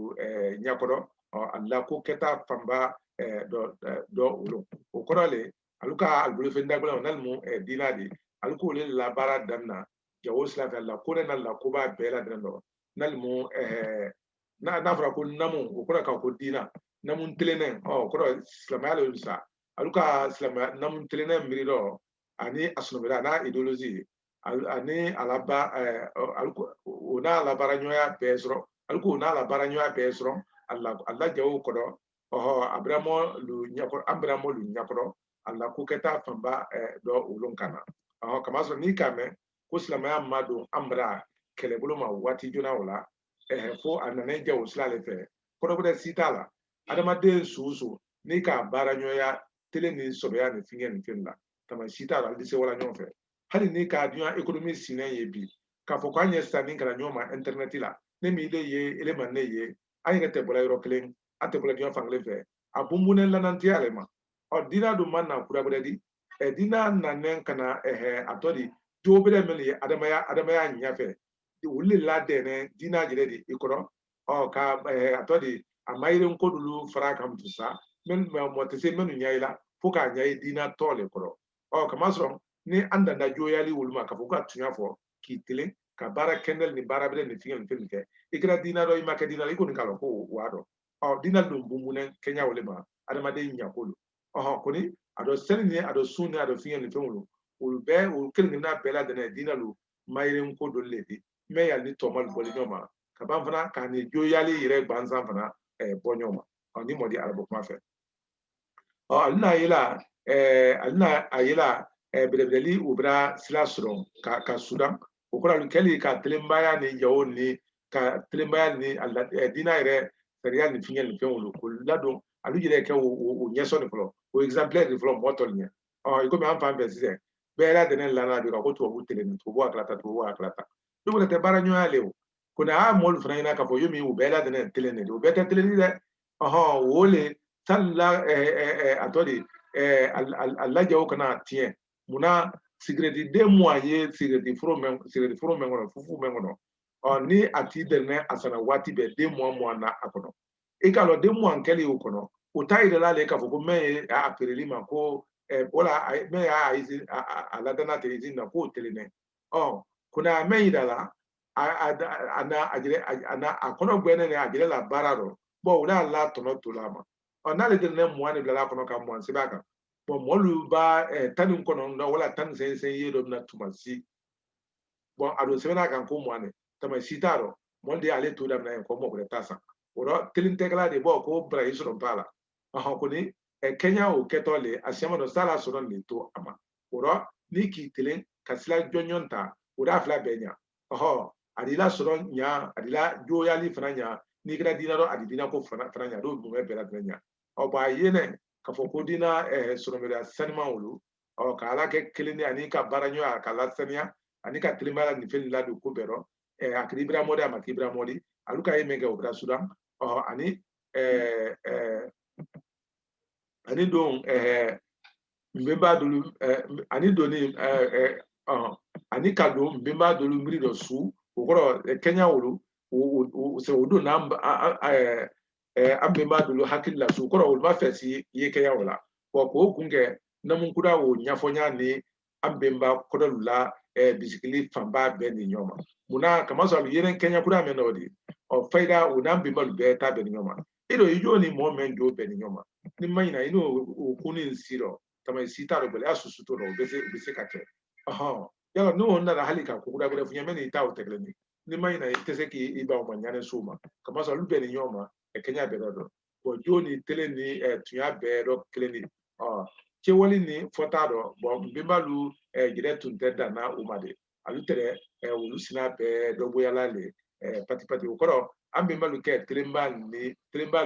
ɲɛkɔrɔ ɔ a la ko kɛta fanba dɔ dɔ olu o kɔrɔ le alu ka alu bolofɛn dagbɛlɛn n'ale mu diina di alu k'o le labaara damina jago sira fɛ la ko ne na la ko ba bɛɛ la dɛrɛ dɔ nalimu n'a n'a fɔra ko namu o kɔrɔ ka ko diina namu tilennen ɔ o kɔrɔ silamaya le sa alu ka silamaya namu tilennen miiri dɔ ani a sunɔgɔla n'a idéologie ani a laba o n'a labaara ɲɔgɔnya bɛɛ sɔrɔ alu k'o n'a labaara ɲɔgɔnya bɛɛ sɔrɔ a la jago kɔrɔ ɔhɔ a bɛrɛ mɔ lu ɲɛkɔrɔ an bɛrɛ mɔ lu ɲɛkɔrɔ a la ko kɛta fanba dɔ olu kan na ɔhɔ kamasɔrɔ n'i k'a mɛn ko silamɛya ma don an bara kɛlɛbolo ma waati joona o la fo a nana jawo sira de fɛ kɔrɔ gbɛrɛ si t'a la adamaden su o su n'i k'a baara ɲɔgɔnya telen ni sɔbɛya ni fɛnkɛ ni fɛn la tama si t'a la alu se wa la ɲɔgɔn fɛ hali ni k'a dunya ekonomi sinnen ye bi k'a fɔ k'an ye se sanni kɛ la ɲɔgɔn ma intɛrɛnɛti la ne ma ile ye ile ma ne ye an yɛrɛ tɛ bɔra yɔrɔ kelen an tɛ bɔra diɲɛ fankelen fɛ a bunbunnen lanantiya le ma ɔ dina dun ma na kura wɛrɛ di dina nanen ka na a tɔ di jo bɛrɛ minnu ye adamaya adamaya ɲɛfɛ olu de ladɛnnɛn dina yɛrɛ de i kɔrɔ ɔ ka a tɔ di a mayirin ko dɔlu fara kan sa mɔgɔ tɛ se minnu ɲɛ i la fo k'a ɲɛ i dina tɔ le kɔrɔ ɔ k'a masɔrɔ ni an danda joyali olu ma ka fɔ ka tunya fɔ k'i tilen ka baara kɛndɛli ni baara bɛrɛ ni fɛnkɛ ni fɛn kɛ i kɛra dina dɔ i ma kɛ dina i kɔni k'a dɔn ko o b'a dɔn ɔ dina dun bunbunnen kɛɲa o le ma adamaden ɲako don ɔhɔn kɔni a dɔ seli ni a dɔ sun ni a dɔ fɛnkɛ ni fɛn olu olu bɛɛ olu kelen kelenna bɛɛ ladɛnnɛn diinɛ lu mayirin ko dɔ le di mɛ y'ali ni tɔmalu bɔ li ɲɔgɔn ma ka ban fana k'a ni joyali yɛrɛ gansan fana ɛɛ bɔ ɲɔgɔn ma ɔ ni mɔdi arabu kuma fɛ ɔ ale n'a ye la ɛɛ ale n'a a ye la ɛɛ bɛrɛbɛrili o bɛna sira sɔrɔ ka ka sudan o kɔrɔ alu kɛli ka telenbaya ni jawo ni ka telenbaya ni a la diinɛ yɛrɛ sariya ni fɛnkɛ ni fɛn olu k'o ladon alu yɛrɛ kɛ o ɲɛsɔn de fɔlɔ o exemplaire de fɔlɔ mɔgɔ tɔlu ɲɛ ɔ komi an fan fɛ sisan bɛɛ ladɛnnɛn lana bi ka ko tubabu telen tubabu a kala ta tubabu a kala ta ne kɔni tɛ baara ɲɔgɔnya le o ko ne a mɔlu fana ɲɛna k'a fɔ yomi u bɛɛ ladɛnnɛn telen de don o bɛɛ tɛ telen dɛ ɔhɔn o le salila a tɔ de a la jawo kana tiɲɛ munna sigirɛti den mugan ye sigirɛti foro mɛn sigirɛti foro mɛn kɔnɔ fufu mɛn kɔnɔ ɔ ni a t'i derinen a san na waati bɛɛ den mugan mugan na a kɔnɔ i k'a dɔn den mugan kɛlen o kɔnɔ o t'a yira la de k'a fɔ ko mɛ ye a feere l'i ma ko wala mɛ y'a a ladan na tɛ izini na k'o telen dɛ ɔ ko n'a mɛ yira la a na a kɔnɔ gbɛnnen de a jira la baara dɔ bɔn o n'a la tɔnɔ to la a ma ɔ n'ale tɛ den mugan de bila la a kɔnɔ ka mugan sɛbɛn a kan bɔn mɔlu b'a tan ni kɔnɔntɔn wala tan ni seyin ye dɔ bɛna tuma si bɔn a dun sɛbɛnnen a kan ko mugan tama si t'a rɔ mɔlu de y'ale to daminɛ yen ko mɔgɔ wɛrɛ t'a san o rɔ telen tɛ kɛ la de bɔ ko barayi sɔrɔ b'a la ɔhɔn kɔni kɛɲa o kɛtɔ le a sɛma dɔ s'a la sɔrɔ nin to a ma o rɔ n'i k'i telen ka sila jɔnjɔn ta o d'a fila bɛɛ ɲa ɔhɔ a d'i la sɔrɔ ɲa a d'i la joyali fana ɲa n'i kɛra dina dɔ a d'i dina ko fana fana ɲa n'o dun bɛɛ ladɛnnɛn ɲa ɔ bɔn a ye nɛ k'a fɔ ko dina sɔrɔmɛriya sanima wolo ɔ ka ala kɛ kelen di ani ka baara ɲɔgɔn ka lasaniya ani ka tilenbaya nin fɛn ladon ko bɛɛ rɔ a kiri ibira mɔdi a ma kibira mɔdi alu ka ye min kɛ o bira sudan ɔ ani ani don nbenba dolu ani doni ani ka don nbenba dolu miiri dɔ su o kɔrɔ kɛɲa olu o don n'an an bɛnba dolu hakili la su kɔrɔ olu b'a fɛ si ye kɛya o la wa k'o kun kɛ namu kuda o ɲɛfɔnya ni an bɛnba kɔdɔlu la bisikili fanba bɛn ni ɲɔgɔn ma munna kamasɔrɔ yeren kɛɲa kura mɛn o de ɔ fayida o n'an bɛnbalu bɛɛ ta bɛn ni ɲɔgɔn ma e don i jɔ ni mɔgɔ mɛn jo bɛn ni ɲɔgɔn ma n'i ma ɲina i n'o o kun ni si dɔ tama si t'a dɔ gɛlɛya susu t'o dɔ o bɛ se o bɛ se ka kɛ ɔhɔn yala n'o nana hali ka ko kuda wɛrɛ f'i ye mɛ n'i ta o tɛ kelen ye n'i ma ɲina i tɛ se k'i ban o ma ɲa nin su ma kamasɔrɔ olu bɛn ni ɲɔgɔn ma kɛɲa bɛɛ dɔ dɔn jo ni telen ni tunya bɛɛ dɔ kelen de cɛwali ni fɔta dɔ bɔ n bɛnbalu jɛrɛ tun tɛ danna o ma de alu tɛrɛ olu sina bɛɛ dɔ bɔyala le pati pati o kɔrɔ an bɛnbalu kɛ telenba ni telenba